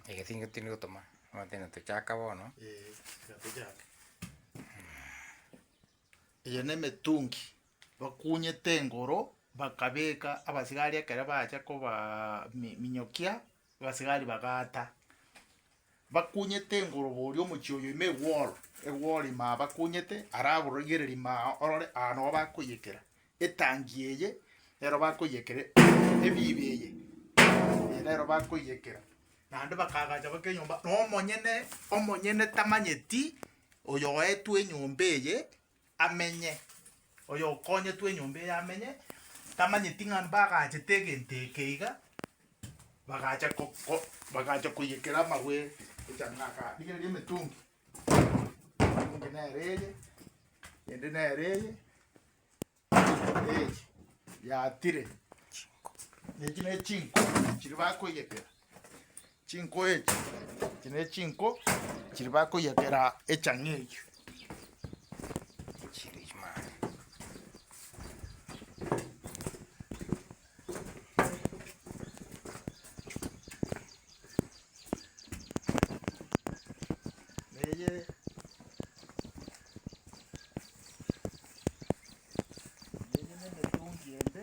Ege tingo tindi gotoma, otiga tochaka bono. Ee, tiga tochake. Eye na emetungi bakunyete engoro, bakabeka abasigari ekero bacha kobaa mi- minyokia, abasigari bagaata. Bakunyete engorogoria omochie oyo ime egworo egworo ime aa bakunyete ara aborigereri ime aa orore aa nogo bakoiyekera etangi eye nero bakoiyekera ebiibi eye eye nero bakoiyekera naende bakaagacha baka enyomba na omonyene omonyene tamanyeti oyo oetwe enyomba eye. amenye, oyokonyetwe enyomba eye amenye, tamanyeti ng'a mbagachete egento eke iga, bagacha ko- ko bagacha koiyekera amabwe echang'ani aka rigereria emetungi, emetungi nere eye, ende nere eye, eye yatire, echi ne chinko chiria bakoiyekera. Chinko echi, echi nechinko chiri bakoyekera echang'a eywo. Chiri chimanu. Neye neye nemetungi ende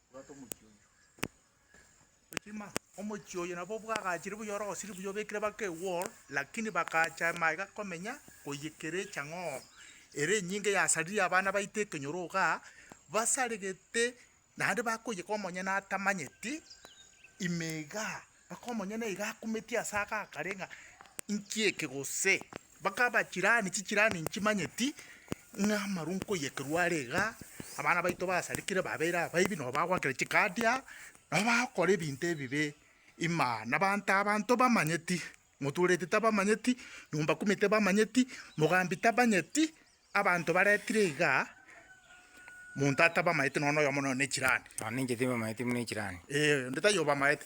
Bwata omochie oyio. Ochima, omochie oyo nabo bwagachire buya ore gosiri buya obekire baka ewall, lakini bakacha amaye gakomenya koiyekera echang'oo ere enyinge yasaririe abana baito ekenyoro igaa, basaregete naende bakoiyeka omonyene atamanyeti ime igaa. Mpaka omonyene iga akumetie ase aka akare ng'a inki eke gose, mpaka abachirani chichrani nchimanyeti ng'a amarwa nkoiyekerwa are iga, abana baito basarikire babeire abaibi nabo bagoakera chikaadi aa, nabo bagokora ebinto ebibe ima na abanto aba ntobamanyeti, motuereti tabamanyeti, nyomba kumi tebamanyeti, mogambi tabanyeti, Abanto baretire iga, monto atabamaete nonya noyomo nonya ne chirani. Nonya ninche tibamaeti buna echirani. Ee, onde taiyo obamaete.